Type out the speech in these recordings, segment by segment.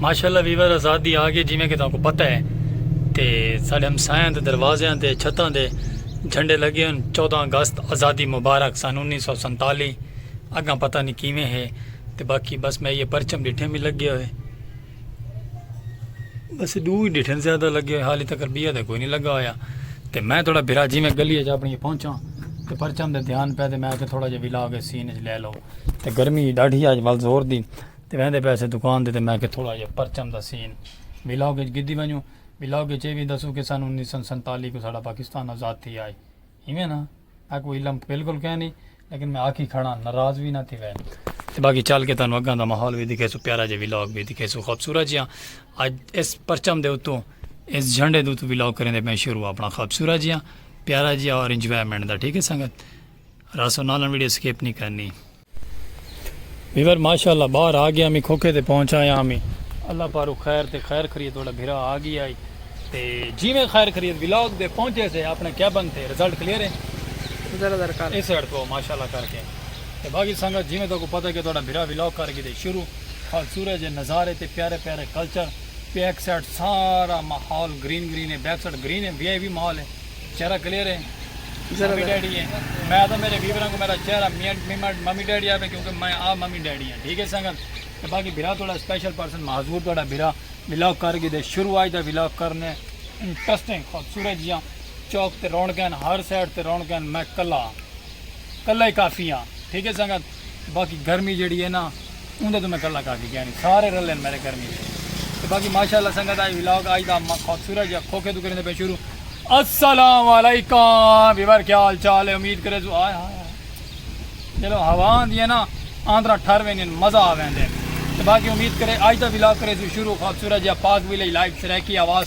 ماشاءاللہ ویور آزادی آگے جی میں کہ تاکو پتہ ہے تے ساڑھے ہم سائن تے دروازے ہیں تے چھتاں دے جھنڈے لگے ہیں چودہ اگست آزادی مبارک سن انیس سو سنتالی اگاں پتہ نہیں کیویں ہے تے باقی بس میں یہ پرچم ڈٹھے میں لگے ہوئے بس دو ہی ڈٹھے زیادہ لگے ہوئے حالی تک ربیہ دے کوئی نہیں لگا ہویا تے میں تھوڑا بھرا جی میں گلی ہے جا اپنی پہنچا تے پرچم دے دھیان پہ دے میں آکے تھوڑا جی ویلا آگے سین جی لے لو تے گرمی ڈاڈھی آج ول زور دی تے ویندے پیسے دکان دے تے میں کہ تھوڑا جا پرچم دا سین ولاگ اچ گدی ونجوں ولاگ اچ اے وی دسوں کہ سن انیس سو سنتالی کو ساڈا پاکستان آزاد تھی آئے ایویں نا میں کو علم بالکل کہیں نہیں لیکن میں آکھی کھڑا ناراض وی نہ تھی وے تے باقی چل کے تانوں اگاں دا ماحول وی دکھے سو پیارا جے ولاگ وی دکھے سو خوبصورت جیاں اج اس پرچم دے اتوں اس جھنڈے دے اتوں ولاگ کریں دے میں شروع اپنا خوبصورت جیاں پیارا جیاں اور انجوائمنٹ دا ٹھیک ہے سنگت راسو نالن ویڈیو سکپ نی کرنی۔ ویور ماشاءاللہ باہر آ گیا میں کھوکھے تے پہنچ آیا میں اللہ پارو خیر تے خیر خرید توڑا بھرا آ گیا ہے تے جیویں خیر خرید ولاگ دے پہنچے سے اپنے کیبن تے رزلٹ کلیئر ہے ذرا ذرا کر اس ہیڈ کو ماشاءاللہ کر کے تے باقی سنگت جیویں تو کو پتہ ہے کہ توڑا بھرا ولاگ کر کے دے شروع خال سورج ہے نظارے تے پیارے پیارے کلچر پیک سیٹ سارا ماحول گرین گرین ہے بیک سیٹ گرین ہے وی آئی وی ماحول ہے چہرہ کلیئر ہے ممی ڈیڈی ہے میں تو میرے ویوراں کو میرا چہرہ ممی ڈیڈی آوے کیونکہ میں آ ممی ڈیڈی ہاں ٹھیک ہے سنگت تے باقی بھرا تھوڑا اسپیشل پرسن معذور تھوڑا بھرا ولاگ کر گئے دے شروع آج دا ولاگ کرنے انٹرسٹنگ خوبصورت جیاں چوک تے رونکن ہر سائڈ تے رونکن میں کلا کلا ہی کافی ہاں ٹھیک ہے سنگت باقی گرمی جیڑی ہے نا اوندے توں میں گلاں کر کے گیانی سارے رلے ہیں میرے گرمی دے تے باقی ماشاءاللہ سنگت آئی ولاگ آئی دا خوبصورت یا کھوکھے تو کریں دے پہ شروع السلام علیکم بیور کیا حال چال ہے امید کرے تو آئے ہاں چلو ہوا آندی ہے نا آندرا ٹھر ویندی ہیں مزہ آ ویندے ہیں باقی امید کرے آج دا ولاگ کرے تو شروع خوبصورت یا پاک ویلے لائف سرائکی آواز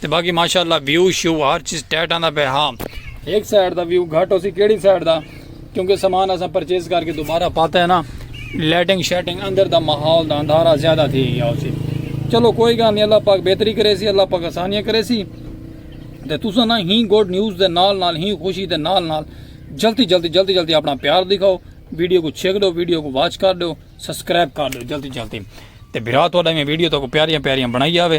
تے باقی ماشاءاللہ ویو شو ہر چیز ٹیٹ آندا پہ ہاں ایک سائیڈ دا ویو گھٹ ہوسی کیڑی سائیڈ دا کیونکہ سامان اساں پرچیز کر کے دوبارہ پاتا ہے نا لائٹنگ شیٹنگ اندر دا ماحول دا اندھارا زیادہ تھی گیا ہوسی چلو کوئی گل نہیں اللہ پاک بہتری کرے سی اللہ پاک آسانیاں کرے سی تے تساں نا ہی گڈ نیوز دے نال نال ہی خوشی دے نال نال جلدی جلدی جلدی جلدی اپنا پیار دکھاؤ ویڈیو کو چھیک دو ویڈیو کو واچ کر دو سبسکرائب کر دو جلدی جلدی تے بھرا تھوڑا میں ویڈیو تو کو پیاریاں پیاریاں بنائی آوے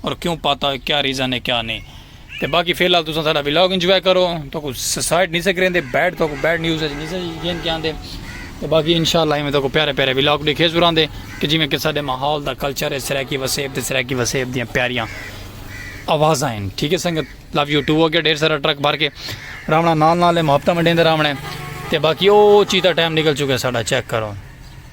اور کیوں پاتا ہے کیا ریزن ہے کیا نہیں تے باقی فی الحال تساں ساڈا ولاگ انجوائے کرو تو کو سائیڈ نہیں سکریں دے بیڈ تو کو بیڈ نیوز ہے نہیں سکریں جن کیا دے تے باقی انشاءاللہ ہمیں تو کو پیارے پیارے ولاگ دیکھے زوران دے کہ جی میں کہ ساڈے ماحول دا کلچر ہے سرائیکی وسیب تے سرائیکی وسیب دیاں پیاریاں آوازاں ہیں ٹھیک ہے سنگت لو یو ٹو ہو گیا ڈھیر سارا ٹرک بھر کے راونا نال نال ہے محبتہ منڈین دے راونے تے باقی او چیتا ٹائم نکل چکے ساڈا چیک کرو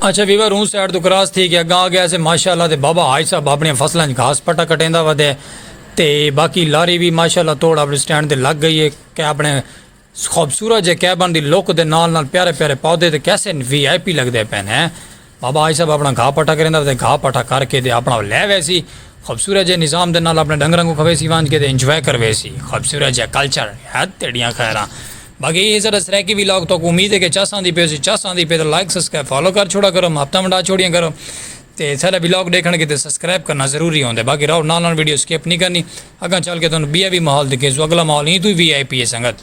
اچھا ویور اوں سائیڈ توں کراس تھی کے اگاں آگے اسے ماشاء اللہ تے بابا حاج صاحب اپنیاں فصلاں اچ گھاس پٹا کٹیندا ودے تے باقی لاری وی ماشاء اللہ توڑ اپنے سٹینڈ تے لگ گئی اے کے اپنے خوبصورت جے کیبن دی لک دے نال نال پیارے پیارے پودے تے کیسے وی آئی پی لگدے پئے نے بابا حاج صاحب اپنا گھا پٹا کریندا ودے گھا پٹا کر کے تے اپنا لے ویسی خوبصورت جے نظام دے نال اپنے ڈنگراں کوں کھویسی وانج کے تے انجوائے کرویسی خوبصورت جے کلچر حد تیڈیاں خیراں باقی اے ساڈا سرائیکی ویلاگ تہاکوں امید ہے کہ چس آندی پئی ہوسی چس آندی پئی تاں لائک سبسکرائب فالو کر چھوڑا کرو محبتاں ونڈا چھوڑیاں کرو تے ساڈا ویلاگ ڈیکھن کیتے سبسکرائب کرنا ضروری ہوندے باقی راہو نال نال ویڈیو سکپ نی کرنی اگاں چل کے تہانوں بیا وی ماحول دکھیسوں اگلا ماحول ایں توں وی وی آئی پی ہے سنگت۔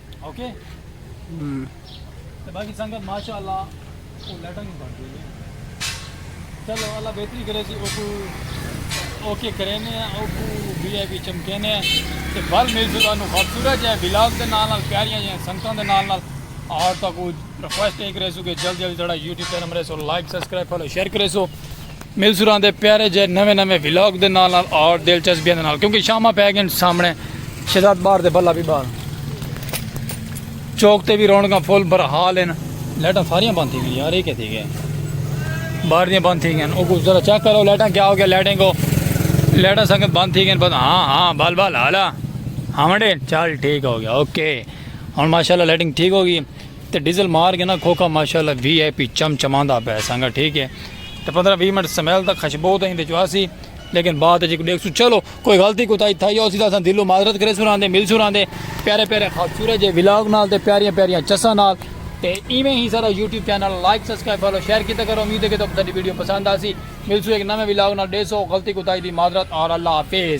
اوکے تے باقی سنگت ماشاءاللہ او لیٹر نہیں بن گئی چلو اللہ بہتری کرے سی اوکو اوکے کرینے ہیں اوکو بی آئی بی چمکینے ہیں تے بھل مل سکتا انہوں خوبصورت جائے بلاگ دے نال نال پیاریاں جائے سنگتوں دے نال نال اور تو کو ریکویسٹ ایک رہے سو کہ جلد جلد تھوڑا یوٹیوب چینل مرے سو لائک سبسکرائب فالو شیئر کرے سو ملزوراں دے پیارے جے نویں نویں ولاگ دے نال نال اور دلچسپیاں دے نال کیونکہ شامہ پہ گئن سامنے شہزاد بار دے بلا بھی بار چوک تے بھی رونگاں فل برحال ہیں لیٹاں ساریاں بند تھی گئیں یار یہ کہتی گئے بار دیاں بند تھی گئیں اوکو ذرا چیک کرو لیٹاں کیا ہو گیا لیٹیں کو لیٹاں سنگت بند تھی گئیں بس ہاں ہاں بال بال حالا ہاں منڈے چال ٹھیک ہو گیا اوکے اور ماشاءاللہ لیٹنگ ٹھیک ہوگی تے ڈیزل مار گئے نا کھوکھا ماشاءاللہ وی آئی پی چم چماندا پئے سانگا ٹھیک ہے تے پندرہ وی منٹ سمیل تک خشبو تاں ایندے چوں آسی لیکن بعد اچ ڈیکھسوں چلو کوئی غلطی کوتاہی تھائی ہوسی تاں اساں دلوں معذرت کریسوں راہندے ملسوں راہندے پیارے پیارے خوبصورت جے ولاگ نال تے پیاریاں پیاریاں چساں نال تے ایویں ہی سارا YouTube channel like subscribe follow share کیتا کرو امید ہے کہ تہاکوں ساڈی ویڈیو پسند آسی ملسوں ایک نویں ولاگ نال ڈیسو غلطی کوتاہی دی معذرت اور اللہ حافظ